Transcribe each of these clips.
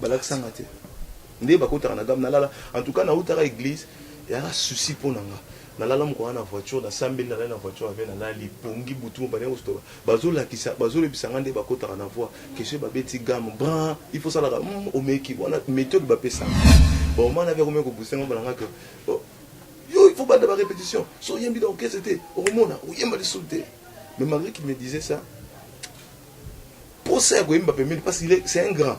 balakisa nga te nde bakotaka na gamme nalala en tout cas nautaka église eyaka souci mpo na nga nalala mokona na voiture nasambeli nalali na voiture ave nalali pongi butu mobane kostoka bazolakisa bazoyebisa nga nde bakotaka na voi kesio babeti gamme brin il faut salaka mm, omeki wana méthode bapesaka baomana ave akomi kobusa nga balanga ke oh, yo il faut banda ba répétition so oyembi na orchestre te okomona oyemba lisusu te mais malgré qu'il me disait ça Posa ya koyemba pembeni parce qu'il est c'est un grand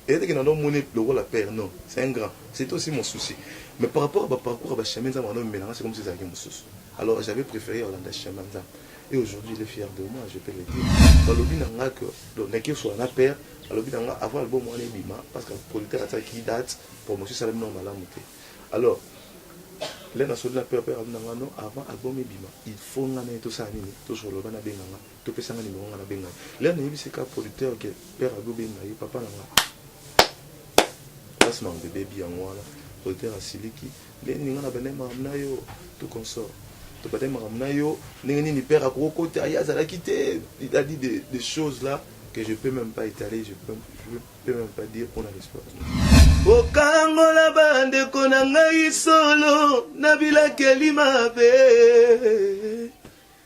eza te ke nando mona ye lokola père non c'est un grand c'etait aussi mon souci mais par rapport ya ba parcours ya ba chemin nzambe akando memela nga c'est comme si ezalaki mosusu alors j'avais prefere ya kolanda chemin ya nzambe et aujourd'hui il est fier de moi je peux le dire balobi na nga que donc naki osola na père alobi na nga avant album wana ebima parce que producteur atiaki date promotion esalami nao malamu te alors lena soli na père père alobi na nga non avant album ebima il faut nga na ye tosala nini tosolola bana benga nga To pesa nga numero nga na benga ye. Là na yebisi ka producteur que père Abdou benga ye papa na nga. Place ma bébé bi yango wana. Producteur asiliki. Ndenge nini nga na bende makambo na yo tout consort. To bende makambo na yo ndenge nini père akoko kota ye azalaki te. Il a dit des, des choses là que je peux même pas étaler, je peux, je peux même pas dire on a l'espoir. okangola bandeko na ngai solo na bilakeli mabe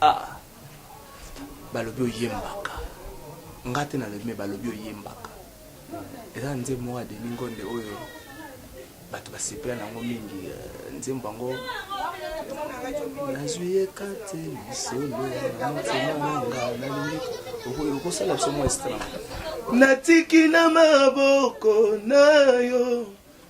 ah balobi oyembaka nga te nalobi me balobi oyembaka eza na nzembo moko ya deni ngonde oyo bato basepela na yango mingi euh, nzembo yango nazwi ye kati lisolo na motema nanga nalingi okosala biso mwa estran natiki na maboko na yo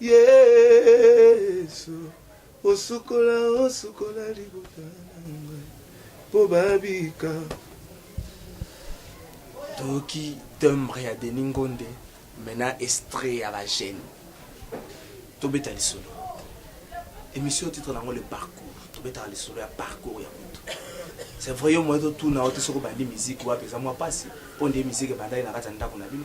Yesu osukola osukola libota mpo babika toyoki timbre ya Denis Ngonde mena estre ya ba jeune tobeta lisolo émission titre nango le parcours tobetaka lisolo ya parcours ya moto c'est vrai yo moye totuna yo te soki obandi miziki wapi eza mwa mpasi mpo nde miziki ebandaki na kati ya ndako na bino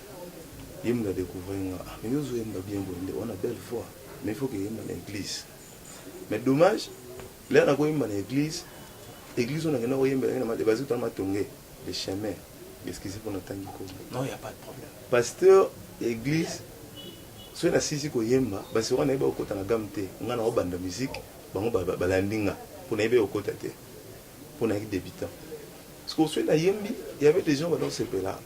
Ye mutu a decouvrir nga ah mais yo ozo yemba bien boye ndeko wana belle voix mais il faut que yemba na eglise mais dommage lelo nako yemba na eglise eglise oyo nakenda koyembela ngai na made bazito na matonge le chemin excuse mpo natangi kombo non ya pas de problème pasteur ya eglise soki nasisi koyemba basewa nayebi okota na game te ngai naobanda musique bango balandi nga mpo nayebi okota te pona ki debutant siko oswe na yembi il y avait des gens bazo sepela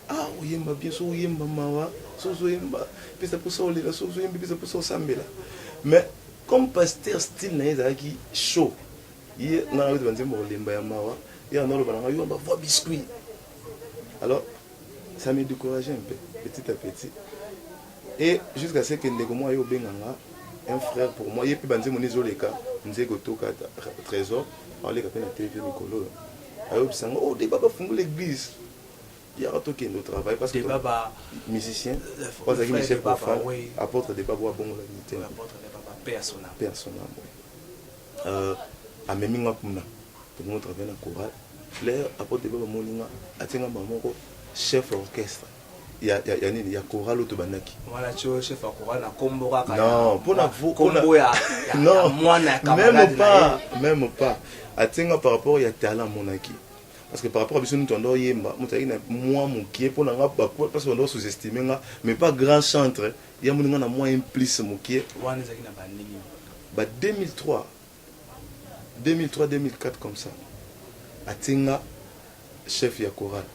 ah oyemba bien so oyemba mawa so ozoyemba pesa posa olela so ozoyembi pesa posa osambela mais comme pasteur style na ye ezalaki chaud ye nga nayote banzembo kolemba ya mawa ye analoba na ngai yo bavoi biscuit alors ça me décourage un peu petit à petit et jusqu'à ce que ndeko moi yo obenga nga un frère pour moi yepe banze moni zoleka nze gotoka trésor aleka pe na tv mikolo yo ayobisa nga oh deba bafungula église yaka tokende au travail parce que baba musicien bazalaki michel profane apôtre deba bo abongola mitema personnel personnel euh amemi nga kuna tokomo travaille na chorale flair apôtre deba bamoni nga atie nga mba moko chef orchestre ya, ya, ya nini ya chorale oyo tobandaki meme pas meme pas atinga par rapport ya talent amonaki parce que par rapport à biso moto ando oyemba moto ayaki na mwa mokie mpo na nga parce bando sous-estime nga mais pas grand chantre ya moni nga na mwa implice mokie ba 2003 2003 2004 comme ça atie nga chef ya chorale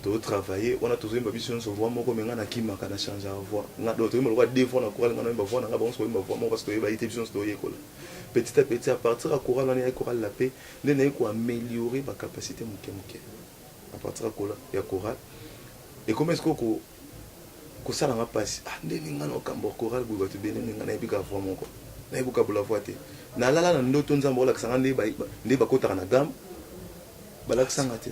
tozo travailler wana tozo yemba biso nyonso voix moko me nga na kimaka na change ya voix nga do toyemba lokola deux voix na chorale nga na yemba voix na nga bango soyemba voix moko parce que toyeba ite biso nyonso toyekola petit à petit à partir ya chorale wana ya chorale la paix nde naye ko améliorer ba capacité moke moke à partir ya chorale et comment est-ce que kosala nga pasi ah ndenge nga na kambo chorale boye batu ebele ndenge nga nayebi ka voix moko nayebi kokabola voix te nalala na ndoto nzambe akolakisa nga nde nde bakotaka na gamme balakisa nga te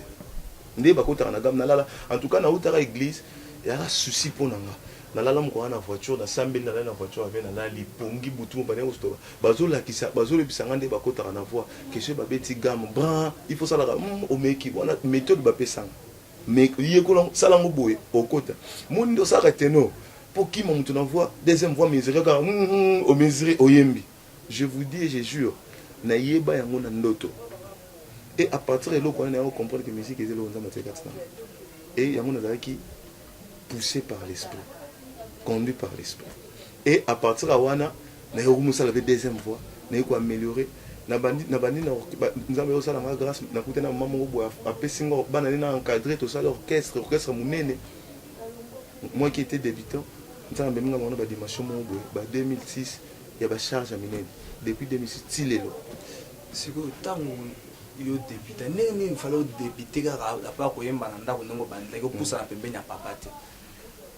nde bakotaka na gamme nalala en tout cas nautaka église yaka souci mpo na nga nalala moko wana na voiture nasambeli nalali na voiture ave nalali pongi butu mobane kostoba bazolakisa bazoyebisa nga nde bakotaka na voix question babeti gamme brin il faut salaka mm, omeki wana méthode bapesanga Mais yekola ngo, sala ngo boye okota. Moni nde osalaka tenor po okima moto na voix, deuxième voix mesure kaka hum hum o mesure oyembi. Je vous dis et je jure na yeba yango na ndoto et à partir ya eloko wana naya ko comprendre que musique eza eloko Nzambe atie kati na nga et yango nazalaki poussé par l'esprit, conduit par l'esprit. Et à partir ya wana naye ko musala pe deuxième voix naye ko ameliorer na bandi na bandi na nzambe azo sala nga grace na kutani na maman moko boye apesi nga bana ne na encadrer to sala orchestre orchestre munene moi qui était débutant nzambe amemi nga na ba dimension moko boye ba 2006 ya ba charge ya minene depuis 2006 ti lelo sikoyo ntango yo debute ndenge nini mfale odebute kaka apa koyemba na ndako ndenge obandaki opusana pembeni ya papa te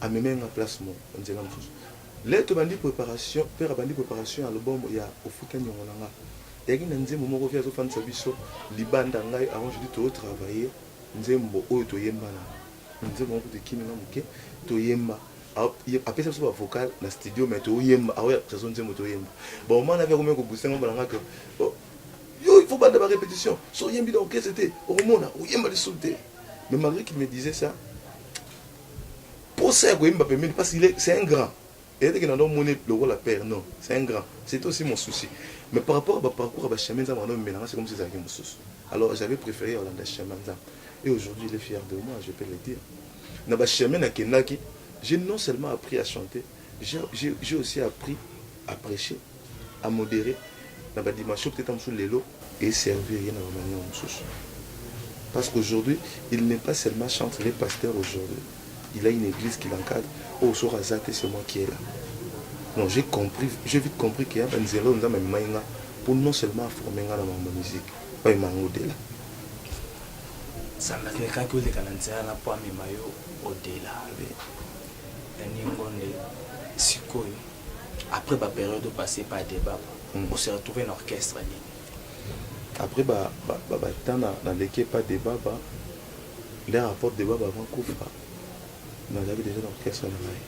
Amemee nga place moko na nzela mosusu Lelo tobandi preparation Père abandi preparation ya album ya Ofuta niongo na nga Eyaki na nzembo moko Vieux azo fandisa biso libanda Ngai Aaron Judith tozo travailler nzembo oyo toyemba na Na nzembo yango kutu ekimi nga moke Toyemba Apesa biso ba vocal na studio mais toyemba Aaron apesa biso nzembo toyemba Ba moment wana Vieux akomi ko booster nga Balanga que Yo il faut obanda ba repetition Soki oyembi na orchestre te okomona Okoyemba lisusu te Mais malgre qu'il me disait ça Posa ya koyemba pembeni parce qu'il est c'est un grand eza te ke nando mona ye lokola père non c'est un grand c'etait aussi mon souci mais par rapport ya ba parcours ya ba chemin nzambe akando memela nga c'est comme si ezalaki mosusu alors j'avais prefere ya kolanda chemin ya nzambe et aujourd'hui il est fier de moi je peux le dire na ba chemin nakendaki j'ai non seulement appris à chanter j'ai j'ai aussi appris A precher, a moderer na ba dimensions peut-etre mosusu lelo e servir ye na ba manières mosusu. Parce qu'aujourd'hui, il n'est pas seulement chantre, il est pasteur aujourd'hui. Il a une eglise qui l'encadre. Oyo soki aza te, c'est moi qui est là. Non, j'ai compris, j'ai vite compris qu'il y a ba nzela oyo Nzambe amemaki nga pour non seulement a former nga na makambo ya musique, mais amema nga au-delà. Nzambe amekaki oleka na nzela wana mpo amema yo au-delà. Oui. Na ningo nde sikoyo après ba période au passé pas débat mm. on se retrouver na orchestre nini après ba ba ba, ba tana na leke pas débat ba les rapports débat ba avant kufa na la déjà na orchestre na ngai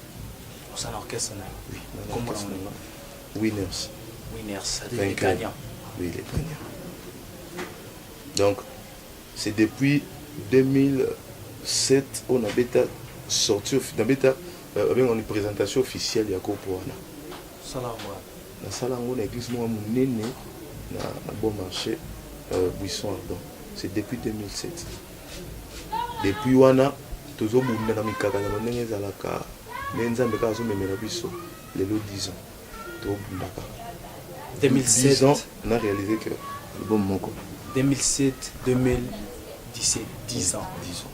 on s'en orchestre na oui na orchestre na winners winners les gagnants oui les gagnants donc C'est depuis 2007 oyo na beta sortie of na beta euh, ba benga ni presentation officielle ya groupe wana. Sala mwa. Na sala ngo na église mwa munene na na bon marché euh, Buisson Ardent. C'est depuis 2007. Depuis wana tozo bunda na mikakatano ndenge ezalaka nde Nzambe kaka azo memela biso lelo 10 ans. tobundaka 2007 ans na réaliser que album moko 2007 2017 10 ans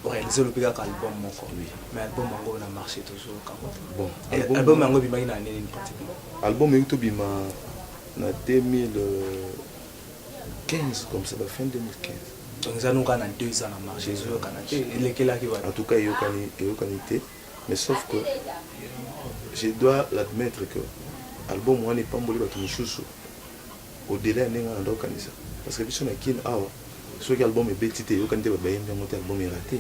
oréalise olobi kaka album moko mais album yango na marché toujours kaka bon album yango ebimaki na année nini pratiquement album euti obima na 2000 15 comme ça ba fin 2015 donc eza noka na 2 ans na marché ezoyokana te elekelaki wana en tout cas eyokani eyokani te Mais sauf que je dois l'admettre que album wana epamboli bato mosusu au delà ya ndenge nanda okanisa parce que biso na kin awa soki album ebeti te eyokani te babayembi yango te album erate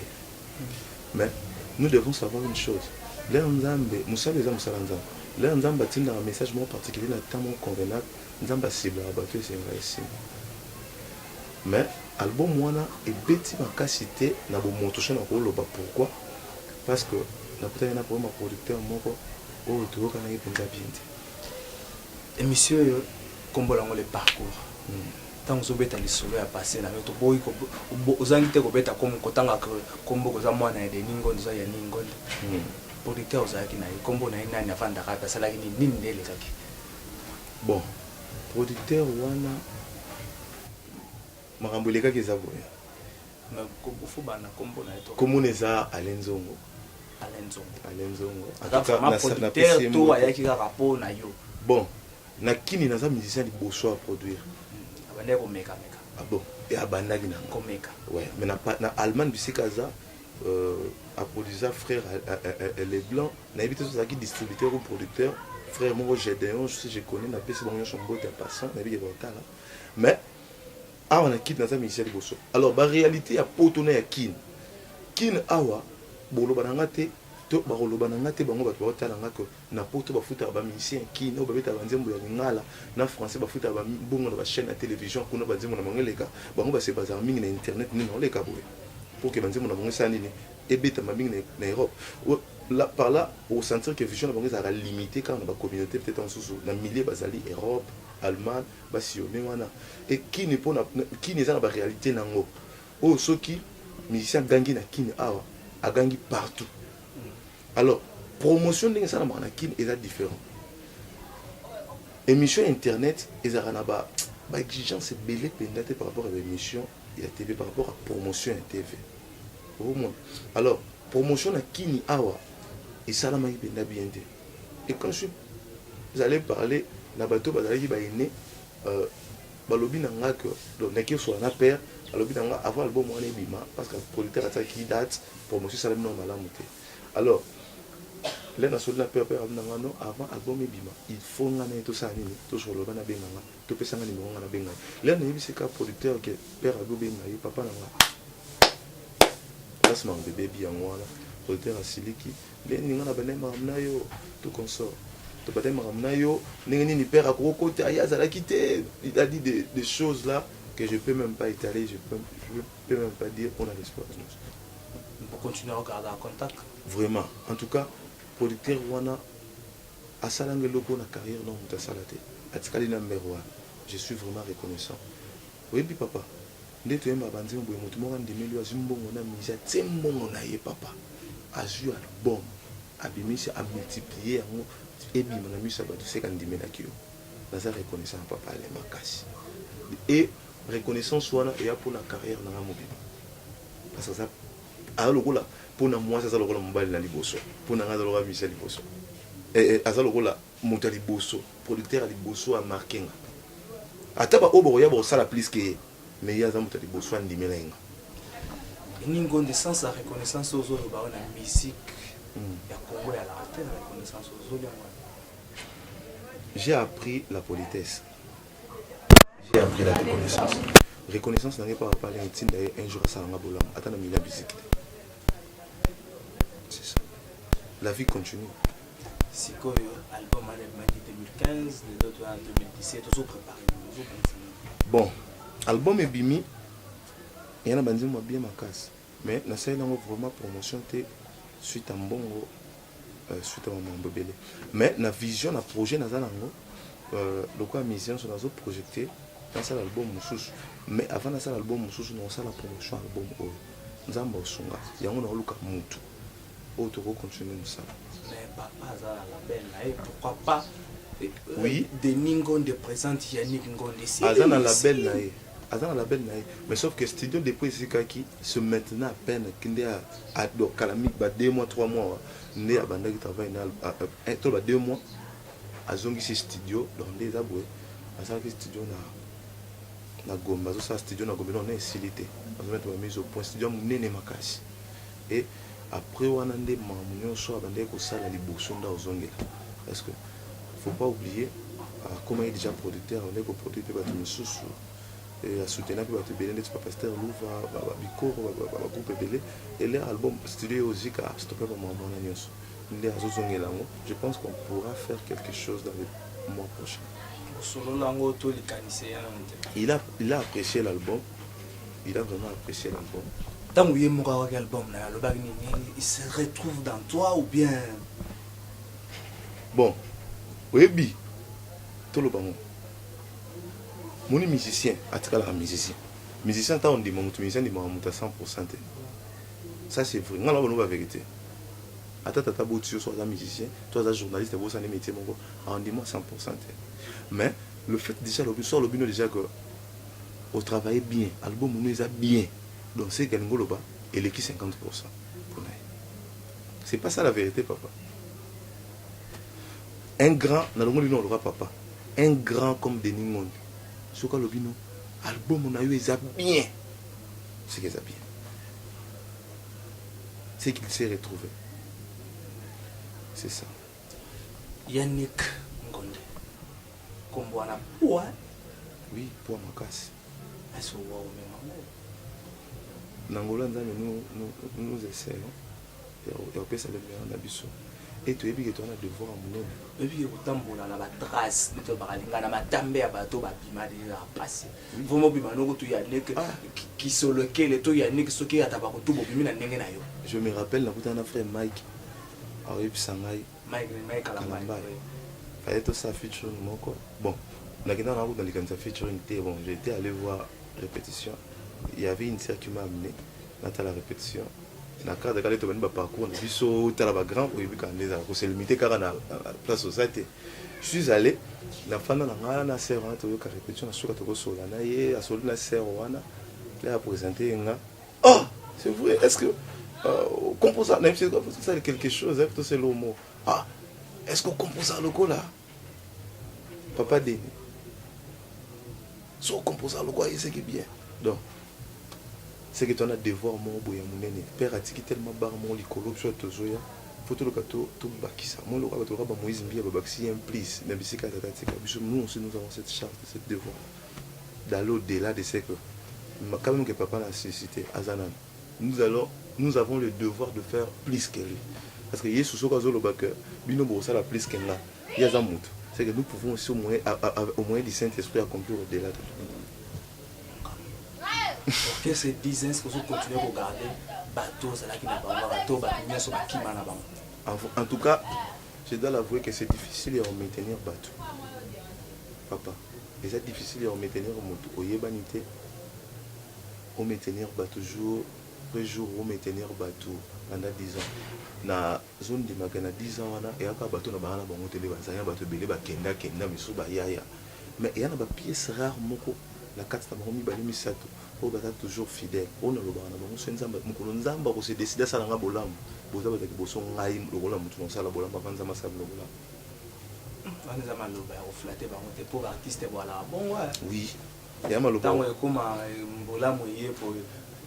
mais nous devons savoir une chose lere nzambe mosala eza mosala nzambe lere nzambe atindaka message moko particulier na temps moko convenable nzambe asiblaka bato esenga esima mais album wana ebeti makasi te na bomoto so na koloba pourquoi parce que nakutani na problème ya producteur moko oyo toyokanaki mpenza bien te émission oyo nkombo lango le parcours ntango hmm. ozobeta lisolo ya passé na yo toboyi ozangi te kobeta kotanga nkombo koza mwana ya denis ngondo oza ya ni ngondo hmm. producteur ozalaki na ye nkombo na ye nani afandaka mpe asalaki nini nini nde elekaki bon producteur wana Makambo elekaki eza boye. Kombo na eza Alain Nzongo. Alain Nzongo. Alain Nzongo. Aza vraiment producteur to ayaki kaka po na yo. Bon, na kini naza musicien liboso ya produire. Hmm, abandaki komeka meka. Ah bon, et abandaki na komeka. Ouais, mais na na Allemagne bisika aza euh, aproduisa frère euh, euh, euh, les blancs nayebi te tozalaki distributeur ou producteur frère moko gedeon je connais napesi bango nyonso mbote ya passant nayebi ke baotala mais awa na kin naza musicien liboso alors ba réalité ya poto na ya kin kin awa boloba na nga te to bakoloba na nga te bango bato baotala nga ke na poto bafutaka bamusicien kin oyo babetaka banzembo ya lingala na français bafutaka bambongo na bachaîne ya télévision kuna banzembo na bango eleka bango base bazaka mingi na internet nini naoleka boye pour ke banzembo na bango esala nini ebetama mingi na europe là, par là osentir ke vision na bango ezalaka limité kaka na bacommunauté peut-être mosusu na milieu bazali europe allemagne Ba sillonne wana et kin mpo na kin eza na ba realite na yango oyo oh, soki musicien agangi na kin awa agangi partout alors promotion ndenge esalamaka na kin eza différent émission ya internet ezalaka na ba ba exigence ebele mpenza te par rapport ya ba émission ya tv par rapport ya promotion ya tv omona alors promotion na kini awa esalamaki mpenza bien te et quand je vous allez parler na bato bazalaki baine euh, balobi na nga que donc naki osola na père alobi na nga avant album wana ebima parce que producteur atikaki date promotion esalami nao malamu te alors lena soli na père père alobi na nga non avant album ebima il faut nga naye tosala nini tosoloba na benga nga To pesa nga numero nga na benga ye. Lea na yebisi ka producteur ke père azo benga ye papa na nga. Place ma bebebi yango wana producteur asiliki. Lea ni nga na banda makambo na yo tout consort. To banda makambo na yo ndenge nini père akoko kota ye azalaki te. Il a dit des, des choses là que je peux même pas étaler, je peux, je peux même pas dire on a l'espoir de nous. Vous continuez à garder en contact? Vraiment. En tout cas, producteur wana Asalanga eloko na carrière nao mutu asala te atikali na mère wana je suis vraiment reconnaissant oyebi papa nde toyemba ba nzembo boye mutu moko andimeli yo azui mbongo na musee atie mbongo na ye papa azui album abimisi a multiplier yango ebima na misu ya batu seke andimelaki yo naza reconnaissant na papa Alain makasi et reconnaissance wana eya pona carrière nanga mobimba parce aza Aza lokola pona muasi aza lokola mobali na liboso pona nga aza lokola misi ya liboso eh eh aza lokola moto ya liboso producteur ya liboso a marque nga ata ba oyo bakoya bakosala plus que ye mais ye aza moto ya liboso andimela ye nga Ningonde sans la reconnaissance ozo loba na musique hmm. ya Congo ya la reconnaissance ozo loba J'ai appris la politesse. j'ai appris la reconnaissance reconnaissance na ngai mpo apale etinda ye un jour asala nga bolamu ata na mila biziki te c'est ça la vie continue sikoyo album wana ebimaki 2015 lelo toya 2017 ozo prépare bon album ebimi eya na banzembo ya bien makasi mais nasaleli yango vraiment promotion te suite ya mbongo euh, suite ya mambo ebele mais na vision na projet naza nango euh, lokola musicien so nazo projecte nasala album mosusu mais avant nasala album mosusu nakosala promotion album oyo nzambe osunga yango naoluka mutu oyo tokoki continue mosala eh, oui denis ngonde présente yannick ngonde aza na label na ye aza na label na ye mais sauf que studio depuis esikaki se maintenant à peine kende Ah, donc kala mingi ba 2 mois 3 mois nde abandaki travail na ah, eh, to ba 2 mois azongisi studio donc nde eza boye asalaki studio na na gombe azosala studio na gombe donc na esili te azomete bamise au point studio ya monene makasi e après wana nde mamu nyonso abandaki kosala liboso nde ozongela parce que faut pas oublier akomaki ah, déjà producteur abandaki koproduire mpe bato mosusu et à soutenir puis bato ebele ndeti bapasteur luva babikoro bagroupe ebele ele album studio eozika stope bamwambo wana nyonso nde azozongela yango je pense qu'on pourra faire quelque chose dans le mois prochain osolola yango to likanisi ya nano te il a, il a apprécié l'album il a vraiment apprécié l'album ntango ye moko awaki album na yo alobaki nini il se retrouve dans toi ou bien bon oyebi toloba ngo Omoni musicien atikalaka musicien. Musicien ata ondima mutu musicien andimaka mutu ya 100% te. Ça c'est vrai. Nga naloba naino ba verite. Ata tata aboti yo soki aza musicien to aza journaliste abosani metier moko andima 100% te. Mais le fait dejà alobi soki alobi nayo dejà que o travailler bien album nayo eza bien donc ce que alingi oloba eleki 50% pona ye. C'est pas ça la verite papa. Un grand na longoli no loka papa un grand comme Denis ngondi soki alobi no album na yo eza bien seke eza bien c'est qu'il s'est retrouvé c'est ça Yannick Ngonde kombo wana poa oui poa makasi aso wa omema ngo na ngola nzambe nous nous nous essayons ya kopesa lemela na biso e toyebi ke toza na devoir ya monene toyebi ke kotambola na batrace nde tolobaka linga na matambe ya bato babima deja mpasi vraimen obima noko to yanik ah. kisolokele to yanik soki ata bakutu bobimi na ndenge na yo je me rappelle nakutana na frère mike aoyebisa ngai kalambai faye tosala featuring moko bon nakenda nakuta na likanisa featuring te bon j'étais allé voir répétition il y avait une sœur qui m'a amené natala répétition na cadre kaka nde tobandi baparcours na biso tala bagrand oyebi kaka nde ezala koselimite kaka na place oza te suis allé nafanda na ngai na ser wana toyoka répétition na suka tokosola na ye asoli na ser wana nde apresente ye nga oh c'est vrai est ce que euh, composa nayebisali quelque chose ayebisi toseli omo ah est ce que okomposa lokola papa deni so composa lokola ye seke bien donc seke to na devoir moko boye ya monene père atiki tellement bar moko likolo biso ya tozoya mpo toloka tobakisa moi lokola bato lokola bamoïse mbiya babakisi ye un plus na bisika ya tata atika biso nous aussi nous avons cette charge de cette devoir d'aller au delà de ce que quand même que papa na suscité aza nani Nous allons nous avons le devoir de faire plus que lui parce que yesu soki azo loba que bino boko sala plus que nga ye aza mutu c'est que nous pouvons aussi au moyen au moyen du saint esprit accomplir au delà de que ce business ozo continuer ko garder bato ozalaki na bango bato bato nyonso bakima na bango en tout cas je dois l'avouer que c'est difficile ya maintenir bato papa eza difficile ya maintenir moto oyebani te Ho maintenir batu jour pe jour ho maintenir batu pendant 10 ans na zo ndima ke na 10 ans wana eya kaka batu na banga na bango te nde ba zali na batu ebele ba kenda kenda misusu ba yaya mais eya na ba piece rare moko na kati na bango mibale misatu oyo baza toujours fidèle oyo na lobaka na bango soki nzambe mokolo nzambe ako se decide asala nga bolamu boza batu ya liboso ngai lokola mutu na kosala bolamu avant nzambe asala bino bolamu wana eza maloba ya ko flatter bango te pour artiste bo alaka bongo hein oui ntango ekoma bolamu eye po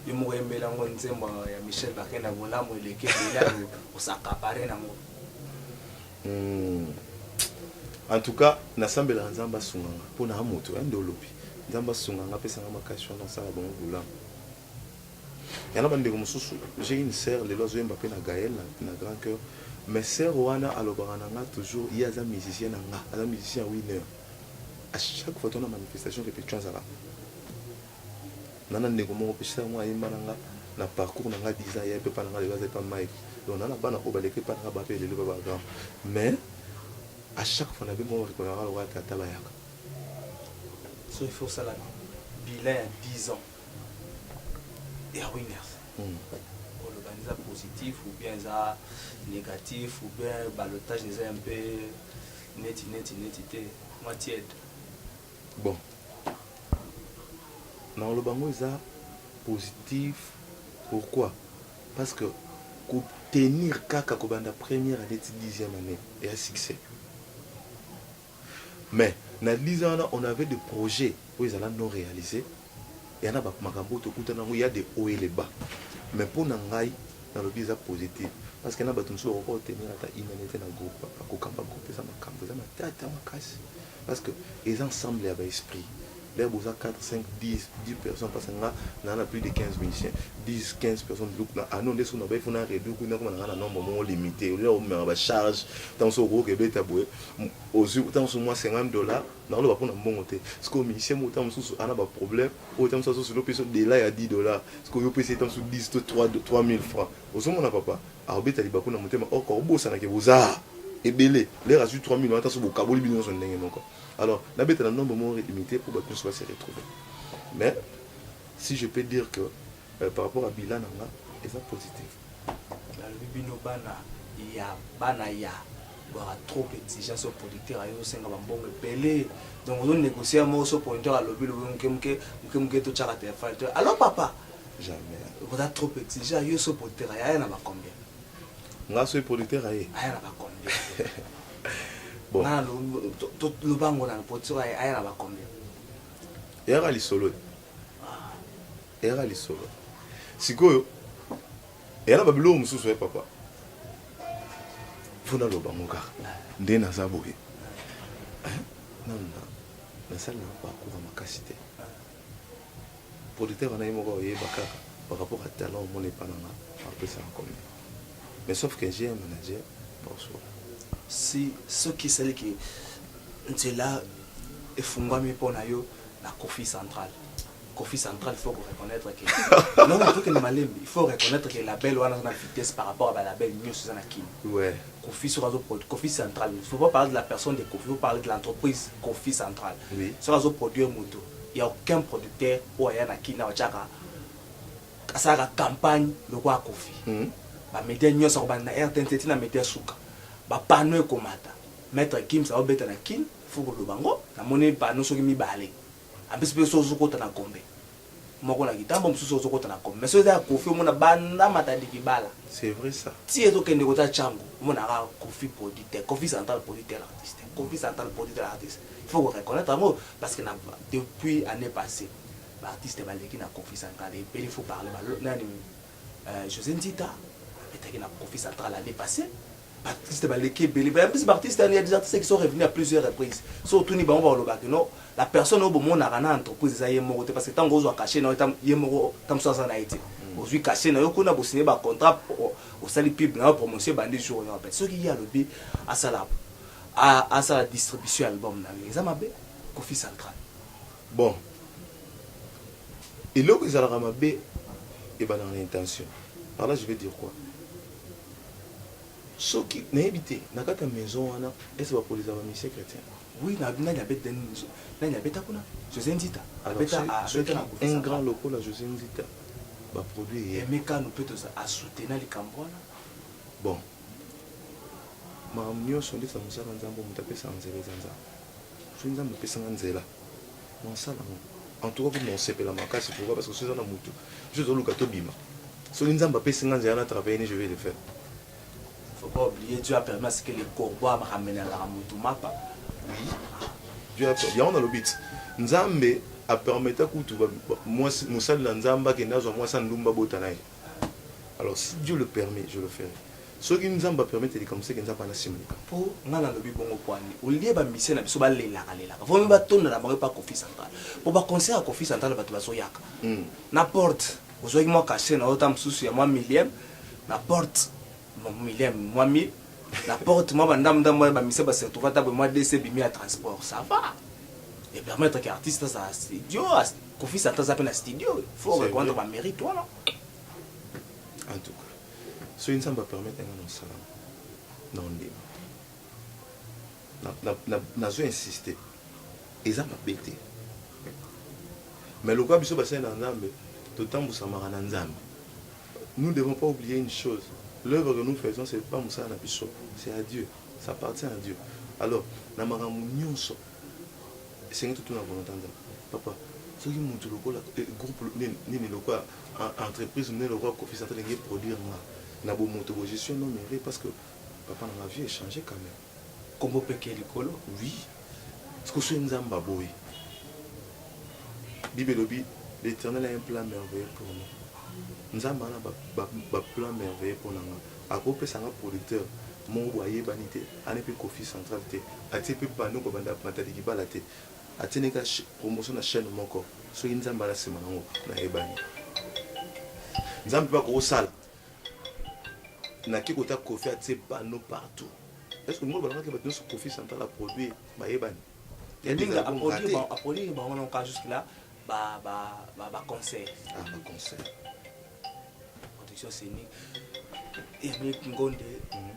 yo moko oyembeli yango nzembo ya michel bakenda bolamu eleki ebele osakapare nango hmm. en tout cas nasambelaka nzambe asunga nga mpo na moto ya nde olobi nzambe asunga nga apesa nga makasi wana asala bango bolamu yana bandeko mosusu j'ai une sœur lelo azoyemba mpe na gael na grand cœur mais sœur wana alobaka na nga toujours ye aza musicien na nga aza musicien ya winner A chaque fois tona manifestation repetition azala nana ndeko moko pe sila mwa ayemba nanga na parcours na nga 10 ans ya pepa na nga lelo aza epa mike donc nana bana oyo baleki epa na nga bape lelo ba bagrand mais à chaque fois na be moko bakipaka nga lokola tata bayaka so il faut osala bilan ya 10 ans ya winners hmm. oloba eza positif ou bien eza négatif ou bien balotage eza un peu Neti, neti, neti te. Mwa tiède. Bon. Na oloba ngo eza positif. Pourquoi? Parce que ko tenir kaka ko banda première année ti dixième année et à succès. Mais na 10 ans wana on avait des projets oyo ezala non réalisés. ya na ba makambo oyo tokutana nango ya de haut et le bas mais mpo na ngai nalobi eza positif parce que na bato mosusu bakoki kotenir ata une année te na groupe papa kokamba groupe eza makambo eza matata makasi parce que eza ensemble ya ba esprit lea boza 4 5 10 10 personnes parce que nga naa na plus de 15 musiciens 10 15 personnes biloko na ano nde soki nabai fona reduire kundi nakoma nanga na nombre moko limité olia omemaka bacharge ntango soki okoki kebeta boye ozwi ntango soki mwa 50 dollars Nazo loba pona mbongo te. Sikoyo musicien moko tango mosusu ana ba problème, oyo tango mosusu azo solo pesa yo dela ya 10 dollars, sikoyo yo opesa ye tango mosusu 10 to 3 3000 francs. Ozo mona papa? Ako beta libaku na motema or ako bosana ke boza ebele. Lere azui 3000 wana tango mosusu bo kaboli bino nionso ndenge moko. Alors na beta na nombre moko limite po batu nionso ba se retrouver. Mais si je peux dire que. Euh, par rapport à bilan na nga eza positif. Nalobi bino bana ya bana ya bwaka trop exigence sur producteur ayo osenga bambongo ebele donc ozo négocier ya moko so producteur alobi lobi moke moke moke moke totyaka telefone to alors papa jamais oza trop exigent yo so producteur aye aya na bacombien nga soki producteur aye aya na bacombien nga lobango na producteur aye aya na bacombien eyaka lisolo eyaka lisolo sikoyo eyala babiloko mosusu ya eh, papa mpo naloba ngo kaka nde naza boye eh, nasala na bakoura makasi te producteur wana ye moko oyeba kaka par rapport à talent omona epa nanga apesaka combien mais sauf que j'ai un manager baosola si soki esaliki nzela efungwami mpo na yo na Kofi Central. Kofi Central, il faut reconnaître que non, il faut que Malembe, il faut reconnaître que la belle wana na vitesse par rapport à la belle mieux c'est na Kim. Ouais. Kofi sur azo produit Kofi Central. Il faut pas parler de la personne de Kofi, il faut parler de l'entreprise Kofi Central. Oui. Sur azo produire moto. Il y a aucun producteur ou aya na Kina ochaka asalaka campagne lokola Kofi. Mm. Ba médias nyonso akobanda na RTNC na médias suka. Ba panneaux ekomata. Maître Kim ça va beta na Kin. faut koloba ngo na moni panneau soki mibale en plus pe soki ozokota na gombe moko na kitambo mosusu ozokota na gombe mais soki eza ya kofi omona banda matandiki bala c'est vrai ça ti ezokende kota chango omona kaka kofi produit te kofi central produit tel artiste kofi central produit tel artiste il faut ko reconnaître yango parce que na depuis année passée ba artiste baleki na kofi central et il faut parler ba nani euh, José Nzita abetaki na kofi central année passée ba artistes baleki ebele ba plus ba artistes il y a des artistes qui sont revenus à plusieurs reprises so otuni bango bakoloba que non la personne oyo bomonaka na entreprise eza ye moko te parce que ntango ozwa cachet na yo tam- ye moko ta mosusu aza na ye te ozwi cachet na yo kuna bosigne ba contrat o- osali pub na yo promotion ebandi jour oyo apete soki ye alobi asala a- asala distribution ya album na yo eza mabe kofi central bon eloko ezalaka mabe ebandaka na intention par là je vais dire quoi Soki nayebi te na kati ya maison wana est-ce ba polisa ba musiciens chretiens? Oui na nani abeta nani abeta kuna Jose Nzita abeta abeta na Koffi un grand lokola Jose Nzita ba produire ye Aime Kanu pe toza a soutena likambo wana bon makambo nionso nde eza musala ya Nzambe oyo mutu apesa nzela eza Nzambe. soki nzambe opesa nga nzela nasala ngo en tout cas kutu nakosepela makasi pourquoi parce que soki eza na motu biso tozoluka tobima soki nzambe apesi nga nzela na travaille ne je vais le faire faut pas oublier dieu a permis à ce que le corbeau a ramené la mutu mapa oui dieu a permis yango nalobi ti nzambe apermeta kutu mwasi mosali na nzambe akende azwa mwasi andumba bota na ye Alors si Dieu le permet, je le ferai. soki nzambe apermettre likambo seke nzambe ana nsima likambo mpo ngai nalobi bongo pwani olie bamisia na biso balelaka lelaka vraimen batonda na bango epa kofi central mpo baconcert ya kofi central bato bazoyaka hmm. na porte ozwaki mwa kashe na ota mosusu ya mwa millième na porte millième mwa mille na porte mwa bandambo ndambo ya bamisia basertova ntabwe mwa dc bimi ya transport ça va epermettre ke artiste azala studio Koffi Santa aza pe na studio oyo. Faut C'est reconnaître vrai. ba mérite wana. En tout cas, soki Nzambe a permettre nga na mosala na ondima. Na na na nazo insister. Eza mabe te. Mais lokola biso basali na Nzambe, totambusamaka na Nzambe. Nous devons pas oublier une chose. L'œuvre que nous faisons c'est pas mosala na biso, c'est à Dieu. Ça appartient à Dieu. Alors, na makambo nyonso esengi tutuna volonte ya nzambe papa soki motu lokola eh, groupe nini lokola entreprise nini lokola kofi central enge produire nga na bomoto bo je suis un homme heureux parce que papa na ma vie echange quand même kombo peke likolo oui siko soki nzambe aboyi bible elobi l'éternel a un plan merveilleux pour nous nzambe ana baplan merveilleux mpo na nga akopesa nga producteur moko boyebani te Ane pe koffi central te atie pe panneau ko banda matadi libala te atie ne ka promotion na chaine moko soki nzambe aza sima na ngo na yebani nzambe pe ako sala na ki kota koffi atie panneau partout est ce que ngo balaka ke bato nso koffi central a produit ba yebani Linga a produit ba a produit ba wana ka jusque là ba ba ba ba concert ah ba concert production scénique et avec ngonde mm -hmm.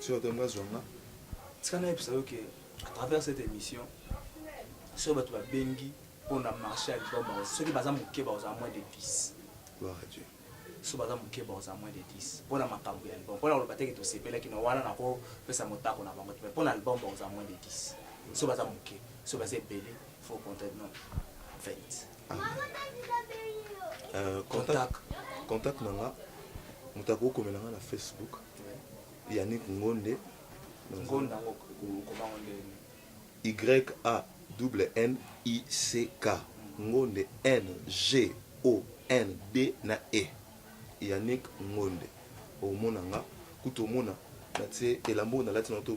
Soki otomi nga zwa nga. Tika nayebisa yo ke à travers cette émission soki bato babengi mpo na marché ya liboma soki baza moke bakozala moins de 10 so baza moke bakozala moins de 10 mpo na makambo ya album mpo na koloba teke tosepelaki na wana nakopesa motako na bango te mpo na album bakozala moins de 10 so baza moke so baza ebele fo contact non 20 ah. euh, contact na nga moto akokomela nga na facebook Yannick Ngonde. Ngonda kobango nde. Y A double N I C K. Ngonde N G O N D na E. Yannick Ngonde. Omona nga kutu omona na tse elambo na lati na to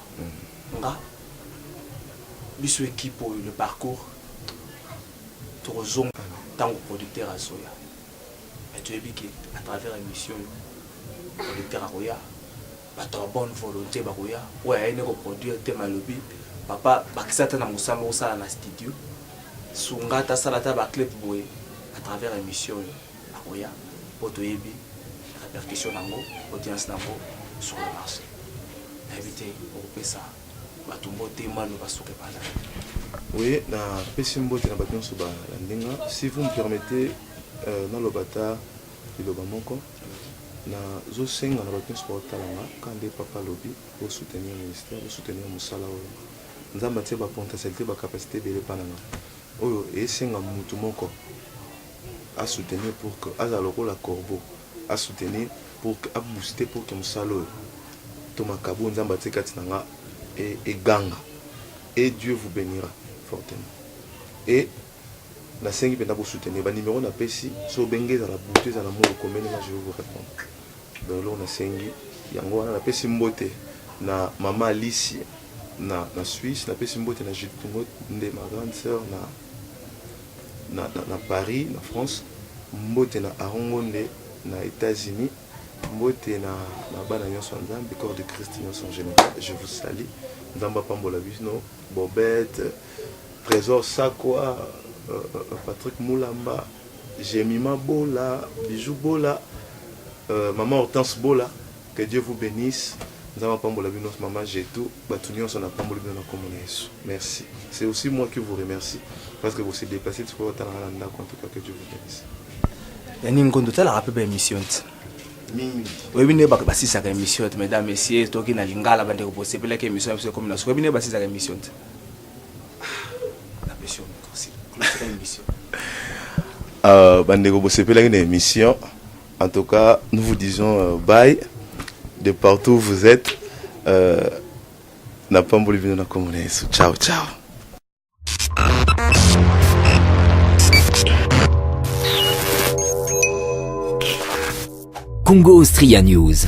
nga biso equipe oyo le parcours tokozonga ntango producteur azoya mais toyebi ke à travers émission oyo producteur akoya bato ya bonne volonté bakoya oyo aye nde koproduire te malobi papa bakisa ata na mosala okosala na studio sunga ata sala ata baclip boye à travers émission oyo akoya po toyebi repercussion na yango audience na yango sur le marché nayebi te okopesa bato mbote manu basuka epanza oui napesi mbote na bato nyonso balandi nga si vous me permettez euh, naloba ata liloba moko nazosenga na bato nyonso baotala nga ka nde papa alobi bosoutenir ministère bosoutenir mosala oyo nzambe atie bapotentialité bacapacité ebele epa na nga oyo esenga motu moko a soutenir pour que azala lokola corbeau a soutenir pour que a booster pour que mosala oyo to makabo nzambe atie kati na nga e, eganga et dieu vous bénira fortement et nasengi mpenza bosoutenir banimero napesi so obenge ezala butu ezala moi okomeli nga je vais vous répondre donc eloko nasengi yango wana napesi mbote na mama alice na, na suisse napesi mbote na jude tungo nde ma grande sœur na na Paris na France, mbote na Aaron Ngonde na Etats Unis, mbote na na bana nyonso ya Nzambe, corps de Christ nyonso en general, je vous salue. Nzambe apambola bino, Bobette, Trésor Sakwa, euh, euh, Patrick Mulamba, Jemima Bola, Bijou Bola, euh, Maman Hortense Bola, Que Dieu vous benisse nzambe apambola bino maman Getou batu nionso na pamboli bino na kombo na yesu merci c'est aussi moi qui vous remercie parce que vous se déplacer tu peux otala na ndako en tout cas que Dieu vous benisse yani ngondo talaka pe ba émission oyebi nde bato basisaka émission te mesdames messieurs toki na lingala bandeko bosepelaki émission ya biso ekomi na suka oyebi nde basisaka émission te napesi émission bandeko bosepelaki na émission En tout cas, nous vous disons euh, bye de partout où vous êtes. Euh, na pamboli bino na kombo na Yesu. Ciao ciao. Congo Austria News.